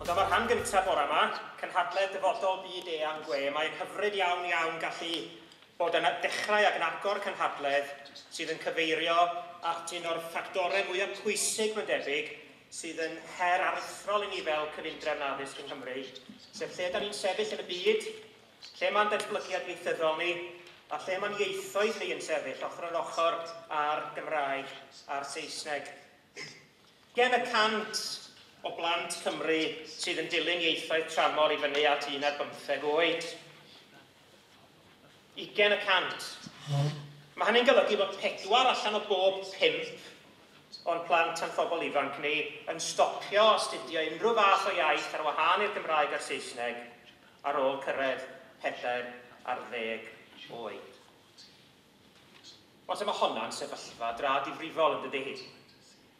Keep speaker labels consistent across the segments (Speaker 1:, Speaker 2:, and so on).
Speaker 1: Ond am y rhan gyntaf bore yma, cynhadledd dyfodol byd eang gwe, mae'n hyfryd iawn iawn gallu bod yn dechrau ac yn agor cynhadledd sydd yn cyfeirio at un o'r ffactorau mwyaf pwysig mae'n debyg sydd yn her aruthrol i ni fel cyfundrefn addysg yng Nghymru, sef lle da ni'n sefyll yn y byd, lle mae'n datblygiad ieithyddol ni, a lle mae'n ieithoedd ni yn sefyll ochr yn ochr â'r Gymraeg a'r Saesneg. Gen y cant o blant Cymru sydd yn dilyn ieithoedd tramor i fyny at un ar bymtheg oed. 20 y cant. Mae hynny'n golygu bod pedwar allan o bob pump o'n plant a'n phobl ifanc ni yn stopio astudio unrhyw fath o iaith ar wahân i'r Gymraeg a'r Saesneg ar ôl cyrraedd pedair ar ddeg oed. Falle mae honna'n sefyllfa dra difrifol, yn dydy?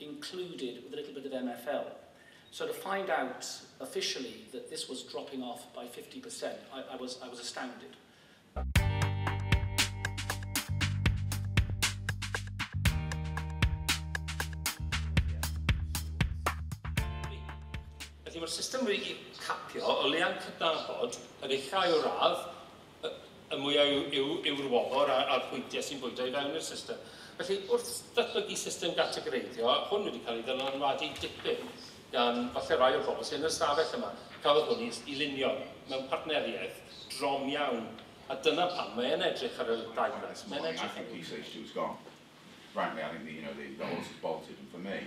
Speaker 2: included with a little bit of MFL. So to find out officially that this was dropping off by 50%, I, I, was, I was astounded.
Speaker 3: Felly mae'r system wedi capio o lea'n cydnabod yn eithaf o radd y mwyaf yw, yw, yw'r wobr a'r pwyntiau sy'n bwydo i fewn i'r system. Felly, wrth ddatblygu system gategoreiddio, hwn wedi cael ei ddylanwadu dipyn gan falle rai o'r bobl sy'n yn yr ystafell yma. Cafodd hwn i lunio mewn partneriaeth drom iawn, a dyna pam mae e'n edrych ar y ddau gais. Mae'n edrych ar y ddau
Speaker 4: gais. Frankly, I think the, you know, the, the horse has bolted, and for me,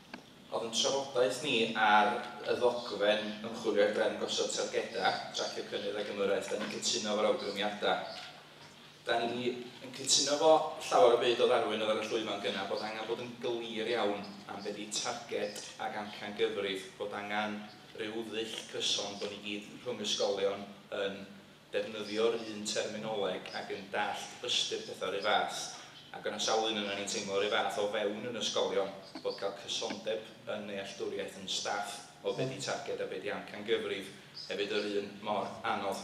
Speaker 5: Oedd yn trafodaeth ni ar y ddogfen ymchwilio ar ben gosod targedau, tracio cynnydd ac ymyrraeth, da ni'n cytuno efo'r awgrymiadau. Da ni yn cytuno fo llawer o byd o ddarwyn oedd ar y llwyfan gyna bod angen bod yn glir iawn am be di targed ac amcan gyfrif, bod angen rhyw ddull cyson bod ni gyd rhwng ysgolion yn defnyddio'r un terminoleg ac yn dallt ystyr pethau yr un fath, ac yna sawl un ohonan ni'n teimlo yr un fath o fewn yn ysgolion, bod cael cysondeb yn nealltwriaeth yn staff o be 'di targed a be 'di amcangyfrif hefyd yr un mor anodd.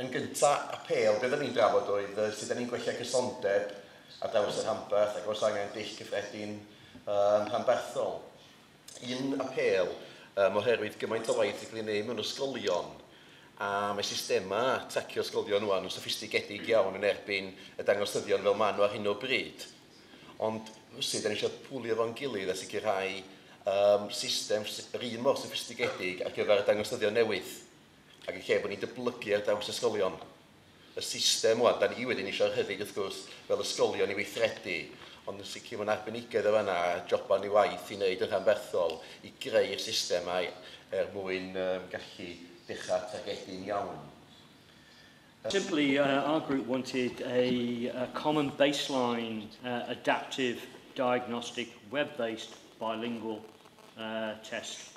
Speaker 5: Yn
Speaker 6: gynta, apêl be oddan ni'n drafod oedd yy sut 'dan ni'n gwella cysondeb ar draws y rhanbarth ac oes angen dull cyffredin yy rhanbarthol. un apêl yym oherwydd gymaint o waith sy'n cael ei wneud mewn ysgolion a mae systemau tracio ysgolion rŵan yn soffistigedig iawn yn erbyn y dangosyddion fel maen nhw ar hyn o bryd. Ond rywsut, da ni eisiau pwlio fo'n gilydd a sicrhau um, system yr un mor soffistigedig ar gyfer y dangosyddion newydd ac yn lle bod ni'n dyblygu ar draws ysgolion. y system ŵan. Da ni wedyn eisiau hefyd wrth gwrs fel ysgolion i weithredu ond yn sicr mae'n arbenigedd o fanna a joban ni waith i wneud yn rhanbarthol i greu'r systemau er mwyn um, gallu dechrau targedu'n iawn.
Speaker 7: Simply, uh, our group wanted a, a common baseline uh, adaptive diagnostic web-based bilingual uh, test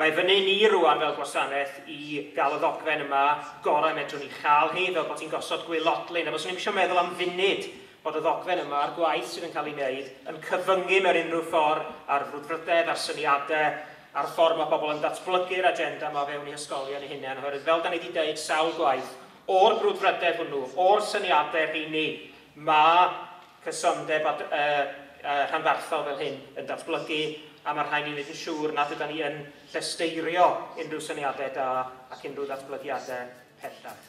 Speaker 1: Mae fyny ni rwan fel gwasanaeth i gael y ddogfen yma gorau medrwn ni chael hi, fel bod hi'n gosod gwaelodlin, a fyswn i'm eisiau meddwl am funud bod y ddogfen yma a'r gwaith sydd yn cael ei wneud yn cyfyngu mewn unrhyw ffordd ar frwdfrydedd, ar syniadau, ar y ffordd mae pobl yn datblygu'r agenda yma o fewn eu hysgolion eu hunain, oherwydd fel da ni wedi deud sawl gwaith, o'r brwdfrydedd hwnnw, o'r syniadau rheini, mae cysondeb a rhanbarthol fel hyn yn datblygu, a mae'r rhain i wneud yn siŵr nad ydan ni yn llesteirio unrhyw syniadau da ac unrhyw ddatblygiadau pellach.